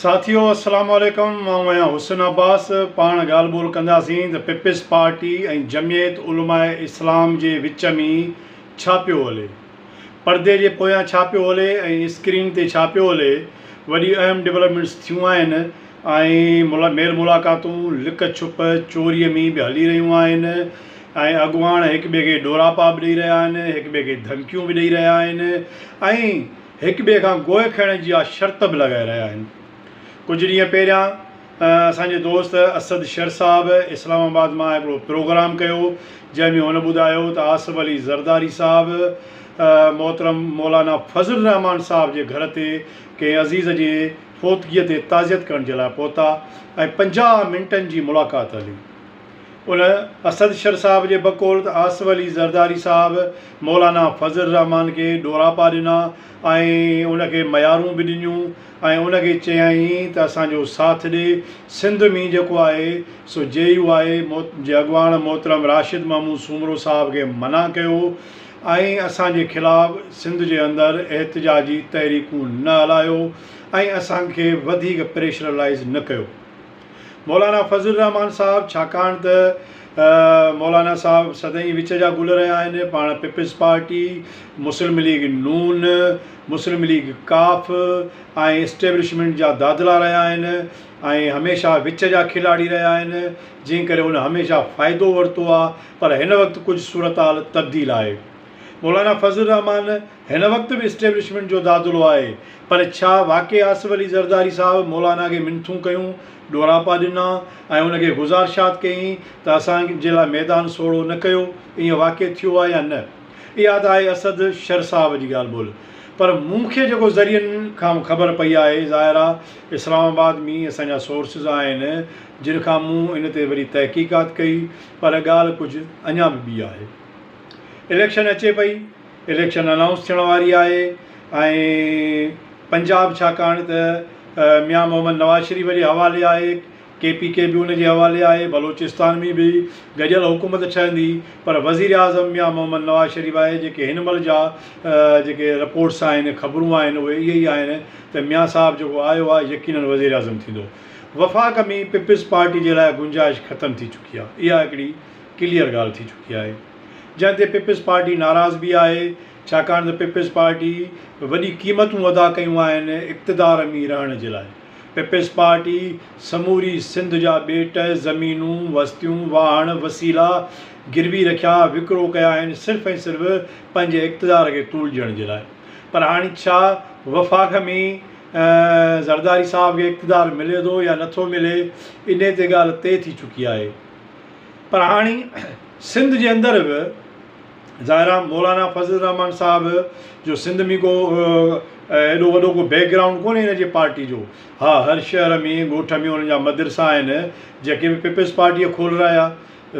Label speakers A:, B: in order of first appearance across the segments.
A: ساٿيو السلام عليڪم آئون آهيان حسن عباس پاڻ ڳالهه ٻولهه ڪنداسين ته پيپلز پارٽي ۽ جمعيت علماء اسلام جي وچ ۾ ڇا پيو هلي پردي جي پويان ڇا پيو هلي ۽ اسڪرين تي ڇا پيو هلي وڏي اهم ڊولپمينٽس ٿيون آهن ۽ ميل ملاقاتون لڪ ڇپ چوري ۾ به هلي رهيون آهن ۽ اڳواڻ هڪ ٻئي کي ڏوراپا به ڏئي رهيا آهن هڪ ٻئي کي ڌمڪيون به ڏئي رهيا آهن ۽ هڪ ٻئي کان گوء کڻڻ جي اها شرط به لڳائي رهيا آهن. ڪجهه ڏينهن پهريان اسان جي دوست اسد شر صاحب اسلام آباد مان هڪڙو پروگرام ڪيو جنهن ۾ هن ٻڌايو ته آصف علي زرداري صاحب محترم مولانا فضل الرحمان صاحب جي گهر تي ڪنهن عزيز جي فوتگيء تي تعزيت ڪرڻ جي لاء پهتا ۽ پنجاهه منٽن جي ملاقات هلي. ان اسد شر صاحب جي بقول ته آصف علي زرداري صاحب مولانا فضل الرحمان کي ڏوراپا ڏنا ۽ ان کي ميارون به ڏنيون ۽ ان کي چيائين ته اسان جو ساٿ ڏي سنڌ ۾ جيڪو آهي سو جي يو آء جي اڳواڻ محترم راشد محمود سومرو صاحب کي منع ڪيو ۽ اسان جي خلاف سنڌ جي اندر احتجاجي تحريڪون نه هلايو ۽ اسان کي وڌيڪ پريشرلائيز نه ڪيو. مولانا فضل الرحمان صاحب ڇاڪاڻ ته مولانا صاحب سدائين وچ جا گل رهيا آهن پاڻ پيپلز پارٽي مسلم ليگ نون مسلم ليگ ڪاف ۽ اسٽيبلشمينٽ جا دادلا رهيا آهن ۽ هميشه وچ جا کلاڙي رهيا آهن جنهن ڪري هن هميشه فائدو ورتو آهي پر هن وقت ڪجهه صورتحال تبديل آهي مولانا فضل الرحمان هن وقت به اسٽيبلشمينٽ جو دادلو آهي پر ڇا واقعي آصف علي زرداري صاحب مولانا کي منٿون ڪيون، ڏوراپا ڏنا ۽ ان کي گذارشات ڪيائين ته اسان جي لاء ميدان سوڙهو نه ڪيو، ائين واقعي ٿيو آهي يا نه؟ اها ته آهي اسد شر صاحب جي ڳالهه ٻولهه پر مون کي جيڪو ذريعن کان خبر پئي آهي ظاهر آهي اسلام آباد ۾ اسان جا سورسز آهن جن کان مون ان تي وري تحقيقات ڪئي پر ڳالهه ڪجهه اڃا به ٻي آهي. اليڪشن اچي پئي اليڪشن انائونس ٿيڻ واري آهي ۽ پنجاب ڇاڪاڻ ته ميان محمد نواز شريف جي حوالي آهي ڪي پي ڪي بي ان جي حوالي آهي بلوچستان ۾ به گڏيل حڪومت ٺهندي پر وزير اعظم ميان محمد نواز شريف آهي جيڪي هن مهل جا جيڪي رپورٽس آهن خبرون آهن اهي اهي ئي آهن ته ميان صاحب جيڪو آيو آهي يقينن وزير اعظم ٿيندو وفاق ۾ پيپلز پارٽي جي لاء گنجائش ختم ٿي چڪي آهي اها هڪڙي ڪليئر ڳالهه ٿي چڪي آهي جنهن تي پيپلز پارٽي ناراض به آهي ڇاڪاڻ ته پيپلز پارٽي وڏي قيمتون ادا ڪيون آهن اقتدار مي رهڻ جي لاء پيپلز پارٽي سموري سنڌ جا ٻيٽ زمينون وستيون واهڻ وسيلا گروي رکيا وڪرو ڪيا آهن صرف ۽ صرف پنهنجي اقتدار کي طول ڏيڻ جي لاء پر هاڻي ڇا وفاق مي زرداري صاحب کي اقتدار ملي ٿو يا نٿو ملي انهي تي ڳالهه طئي ٿي چڪي آهي. پر هاڻي سنڌ جي اندر به ظاهر آ مولانا فضل الرحمان صاحب جو سنڌ ۾ ڪو ايڏو وڏو ڪو بيڪ گرائونڊ ڪونهي هن جي پارٽي جو ها هر شهر ۾ ڳوٺ ۾ ان جا مدرسا آهن جيڪي به پيپلز پارٽيء کولرايا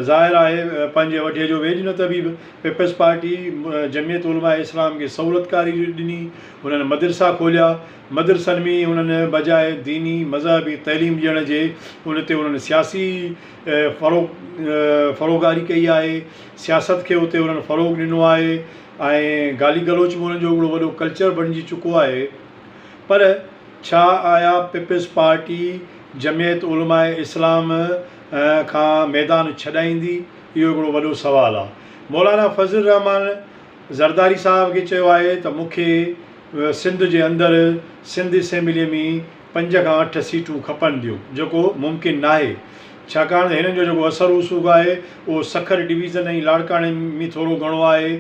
A: ظاهر آهي پنهنجي وڍيء جو ويڄ نه طبيب پيپلز پارٽي جميعت علماء اسلام کي سهولتڪاري ڏني انهن مدرسا کوليا مدرسن ۾ انهن بجاء ديني مذهبي تعليم ڏيڻ جي ان تي انهن سياسي فروغاري ڪئي آهي سياست کي اتي انهن فروغ ڏنو آهي ۽ گالي گلوچ به انهن جو هڪڙو وڏو ڪلچر بڻجي چڪو آهي پر ڇا آيا پيپلز پارٽي جمعيت علماء اسلام کان ميدان ڇڏائيندي اهو هڪڙو وڏو سوال آهي مولانا فضل الرحمان زرداري صاحب کي چيو آهي ته مون کي سنڌ جي اندر سنڌ اسيمبليء ۾ پنج کان اٺ سيٽون کپڻ ڏيو جيڪو ممڪن ناهي ڇاڪاڻ ته هنن جو جيڪو اثر رسوخ آهي اهو سکر ڊويزن ۽ لاڙڪاڻي ۾ ٿورو گهڻو آهي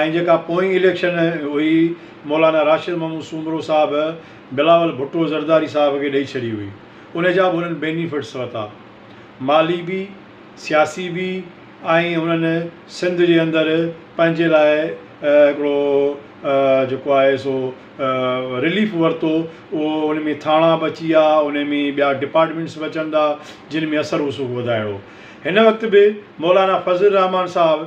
A: ۽ جيڪا پوئين اليڪشن هئي مولانا راشد محمود سومرو صاحب بلاول ڀٽو زرداري صاحب کي ڏئي ڇڏي هئي ان جا به هنن بينيفٽس ورتا. مالي به، سياسي به ۽ انهن سنڌ جي اندر پنهنجي لاء هڪڙو جيڪو آهي سو رليف ورتو اهو ان ۾ ٿاڻا به اچي ويا ان ۾ ٻيا ڊپارٽمينٽس به اچن ٿا جن ۾ اثر رسوخ وڌائڻو هن وقت به مولانا فضل الرحمان صاحب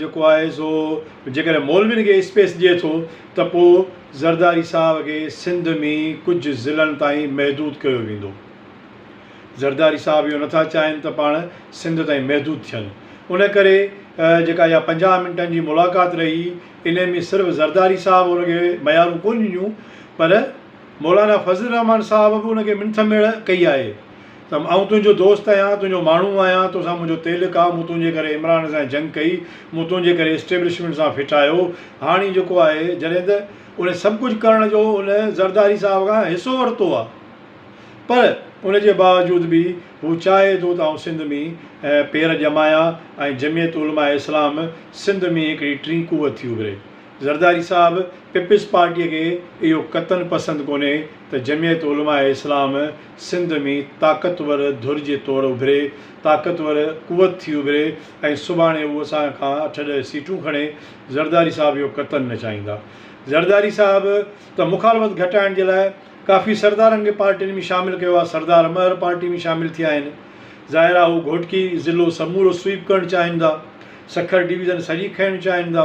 A: جيڪو آهي سو جيڪڏهن مولوين کي اسپيس ڏئي ٿو ته پوء زرداري صاحب کي سنڌ ۾ ڪجهه ضلعن تائين محدود ڪيو ويندو. زرداري صاحب اهو نٿا چاهين ته پاڻ سنڌ تائين محدود ٿين. ان ڪري جيڪا اها پنجاهه منٽن جي ملاقات رهي انهي ۾ صرف زرداري صاحب ان کي ميارون ڪونه ڏنيون پر مولانا فضل الرحمان صاحب به ان کي منٿ ميڙ ڪئي آهي. ته آئون تنهنجو دوست آهيان، تنهنجو ماڻهو آهيان، توسان منهنجو تعلق آ، مون تنهنجي ڪري عمران سان جنگ ڪئي، مون تنهنجي ڪري اسٽيبلشمينٽ سان ڦٽايو، هاڻي جيڪو آهي جڏهن ته ان سڀ ڪجهه ڪرڻ جو ان زرداري صاحب کان حصو ورتو آ پر ان جي باوجود به هو چاهي ٿو ته آئون سنڌ ۾ پير ڄمايان ۽ جمعيت علماء اسلام سنڌ ۾ هڪڙي ٽين قوت ٿي اڀري، زرداري صاحب پيپلز پارٽي کي اهو قطعن پسند ڪونهي ته جمعيت علماء اسلام سنڌ ۾ طاقتور ڌر جي طور اڀري، طاقتور قوت ٿي اڀري ۽ سڀاڻي هو اسان کان اٺ ڏهه سيٽون کڻي، زرداري صاحب اهو قطعاً نه چاهيندا. زرداري صاحب ته مخالفت گهٽائڻ جي لاء ڪافي سردارن کي پارٽين ۾ شامل ڪيو آهي، سردار مهر پارٽي ۾ شامل ٿيا آهن، ظاهر آهي هو گهوٽڪي ضلعو سمورو سوئيپ ڪرڻ چاهيندا، سکر ڊويزن سڄي کڻڻ چاهيندا.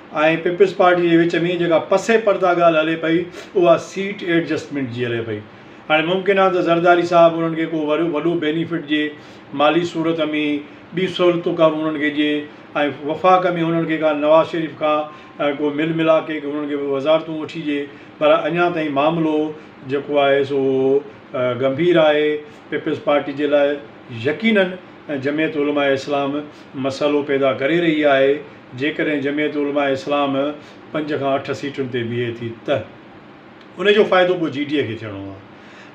A: ۽ پيپلز پارٽي جي وچ ۾ جيڪا پسي پرده ڳالهه هلي پئي اها سيٽ ايڊجسٽمينٽ جي هلي پئي هاڻي ممڪن آهي ته زرداري صاحب انهن کي ڪو وڏو بينيفٽ ڏئي مالي صورت ۾ ٻيون سهولتون ڪا انهن کي ڏئي ۽ وفاق ۾ انهن کي ڪا نواز شريف کان ڪو مل ملاق ڪري انهن کي ڪو وزارتون وٺي ڏئي پر اڃا تائين معاملو جيڪو آهي سو گنڀير آهي پيپلز پارٽي جي لاء يقينن جمعيت علماء اسلام مسئلو پيدا ڪري رهي آهي جيڪڏهن جمعيت علماء اسلام پنج کان اٺ سيٽن تي بيهي ٿي ته ان جو فائدو پوء جي ڊي کي ٿيڻو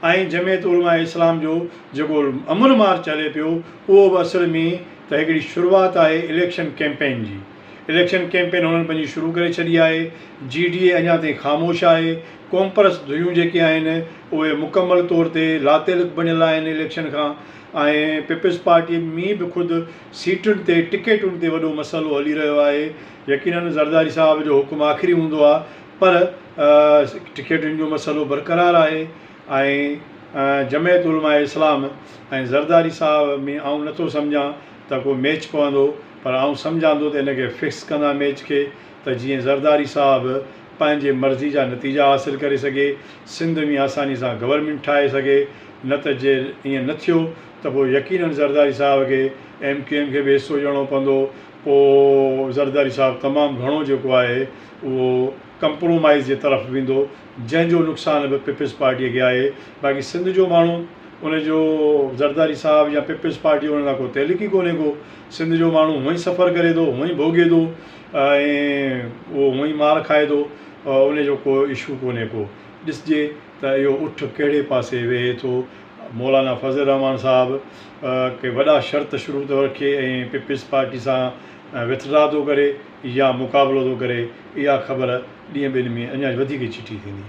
A: آهي ۽ جمعيت علماء اسلام جو جيڪو امن مارچ هلي پيو اهو به اصل ۾ ته هڪڙي شروعات آهي اليڪشن ڪيمپين جي اليڪشن ڪيمپين هنن پنهنجي شروع ڪري ڇڏي آهي جي ڊي اڃا تائين خاموش آهي ڪومپرس ڌريون جيڪي آهن اهي مڪمل طور تي لاتعلق بڻيل آهن اليڪشن کان ۽ پيپلز پارٽي مين به خود سيٽن تي ٽڪيٽن تي وڏو مسئلو هلي رهيو آهي يقينن زرداري صاحب جو حڪم آخري هوندو آهي پر ٽڪيٽن جو مسئلو برقرار آهي ۽ جمعيت علماء اسلام ۽ زرداري صاحب ۾ آئون نٿو سمجهان ته ڪو ميچ پوندو پر آئون سمجهان ٿو ته ان کي فڪس ڪندا ميچ کي ته جيئن زرداري صاحب پنهنجي مرضي جا نتيجا حاصل ڪري سگهي سنڌ ۾ آساني سان گورنمينٽ ٺاهي سگهي نه ته جي ائين نه ٿيو ته پوء يقينن زرداري صاحب کي ايم ڪيو ايم کي به حصو ڏيڻو پوندو پوء زرداري صاحب تمام گهڻو جيڪو آهي اهو ڪمپرومائيز جي طرف ويندو جنهن جو نقصان به پيپلز پارٽي کي آهي باقي سنڌ جو ماڻهو ان جو زرداري صاحب يا پيپلز پارٽي ان سان ڪو تعلق ئي ڪونهي ڪو سنڌ جو ماڻهو هونئن سفر ڪري ٿو هونئن ڀوڳي ٿو ۽ اهو هونئن مار کائي ٿو ان جو ڪو اشو ڪونهي ڪو ڏسجي ته اهو اٺ ڪهڙي پاسي وهي ٿو مولانا فضل الرحمان صاحب ڪي وڏا شرط شروع ٿو رکي ۽ پيپلز پارٽي سان وٿڊرا ٿو ڪري يا مقابلو ٿو ڪري اها خبر ڏينهن ٻن ۾ اڃا وڌيڪ چٽي ٿيندي.